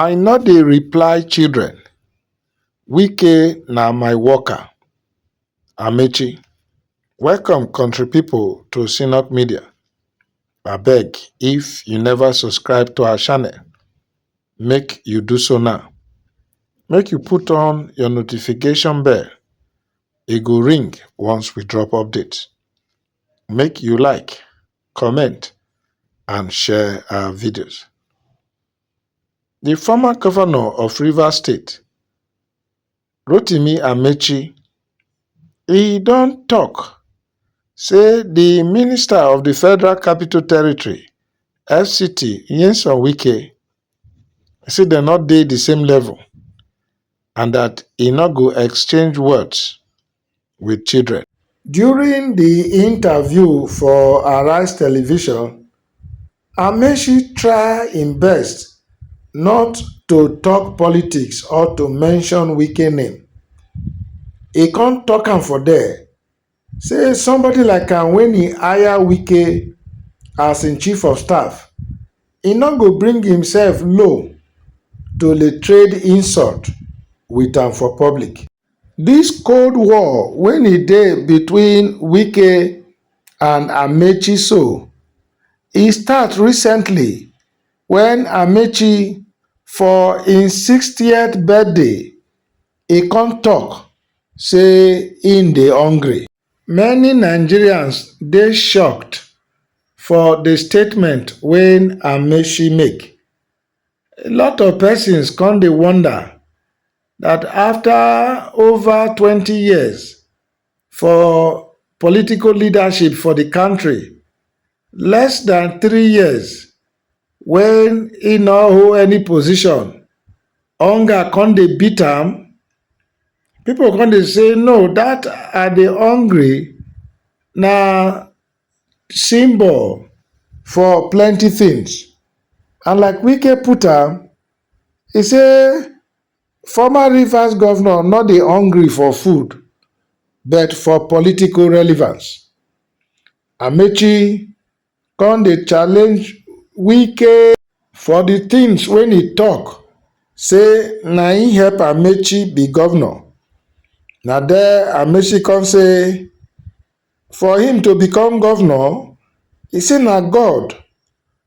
i no dey reply children wike na my worker amaechi welcome country pipo to synod media abeg if you neva subscribe to our channel make you do so now make you put on your notification bell e go ring once we drop update make you like comment and share our videos the former governor of rivers state rotimi amechi e don talk say the minister of the federal capital territory fct nyesom wike say dem no dey the same level and that e no go exchange words with children. During di interview for Arise Television, Amaechi try im best not to tok politics or to mention Wike name. E come tok am for there say somebody like am wen e hire Wike as im chief of staff, e no go bring imsef low to le trade insult wit am for public. This cold war wen e dey between Wike and Amechi so, e start recently wen Amechi for im sixtieth birthday e come talk say im dey hungry. Many Nigerians dey shocked for the statement wen Amechi make. A lot of persons come dey wonder that after over twenty years for political leadership for the country, less than three years wey he no hold any position, hunger come dey beat am. People come dey say no that I dey hungry na symbol for plenty things and like wike put am e say former rivers govnor no dey hungry for food but for political relevance amaechi come dey challenge wike for di things wey e tok say na im help amaechi be govnor na there amaechi come say For im to become govnor, e say na God,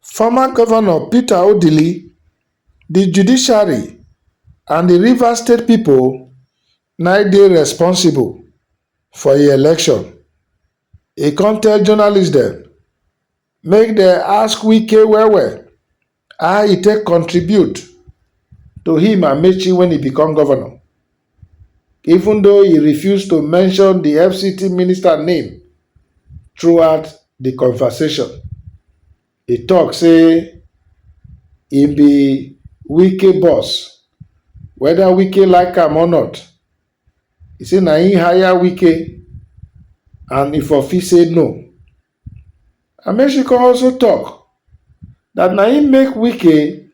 former govnor Peter Odili, di judiciary and di Rivers State pipo na im dey responsible for im election. E kon tell journalists dem make dem ask Wike well-well How e take contribute to him, Amaechi, when e become governor? Even though he refused to mention the FCT minister name throughout the conversation, he talk say he be Wike boss, whether Wike like am or not. He say na him hire Wike and he for fit say no. Amesiko also tok dat na im make Wike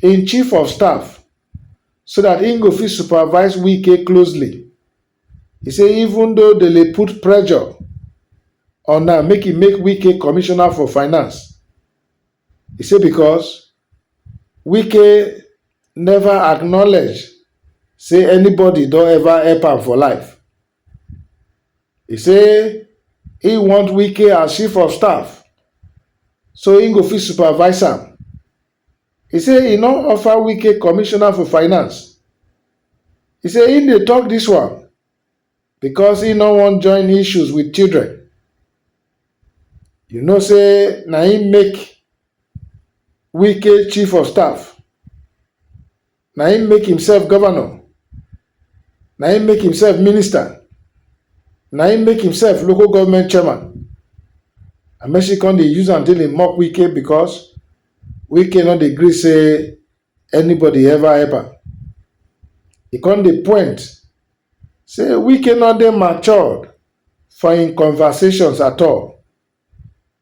im chief of staff so dat im go fit supervise Wike closely. E say even though Dele put pressure on am make e make Wike commissioner for finance, e say because Wike neva acknowledge say anybody don ever help am for life. He say he want Wike as chief of staff so he go fit supervise am. He say he no offer Wike commissioner for finance. He say he dey talk this one because he no wan join issues with children. You know say na him make Wike chief of staff. na im make himself governor, na im make himself minister, na im make himself local government chairman. And Messi come dey use am take dey mock Wike because Wike no dey gree say anybody ever help am. He come dey point say Wike no dey matured for im conversations at all.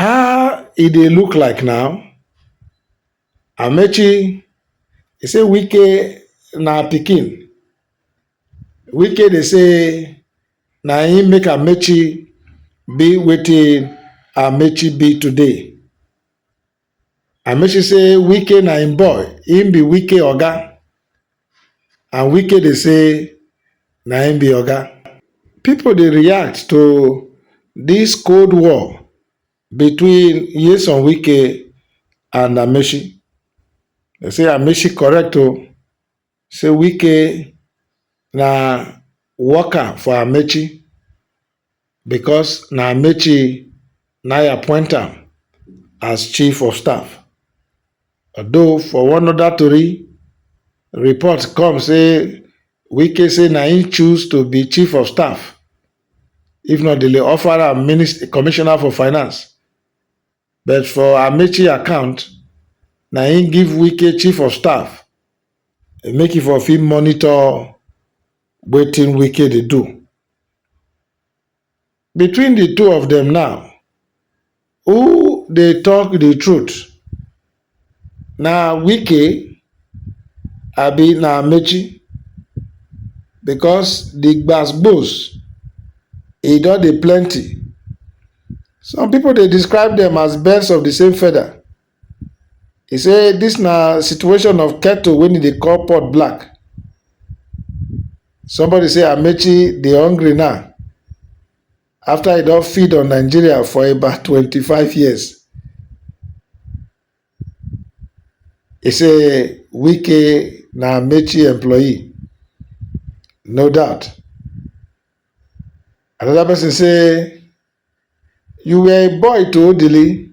How e dey look like now, Amaechi e sey Wike na pikin, Wike dey sey na im make Amaechi be wetin Amaechi be today. Amaechi say Wike na im boy, im be Wike oga and Wike dey say na im be oga. Pipo dey react to dis cold war between Nyesom Wike and Amaechi. Dem say Amaechi correct o, Say Wike na worker for Amechi because na Amechi na im appoint am as chief of staff. Although for one other tori, report come say Wike say na im choose to be chief of staff if not dem dey offer am commissioner for finance. But for Amaechi account, na im give Wike chief of staff make e for fit monitor wetin Wike dey do. Between the two of dem now, who dey talk the truth Na Wike abi na Amechi? Because the gbas gbos e don dey plenty. Some people dey describe them as birds of the same feather. E say this na situation of kettle wey e dey call pot black. Somebody say Amechi dey hungry now. after e don feed on Nigeria for about 25 years. He say Wike na Amechi employee, no doubt. Another person say you were a boy to Odili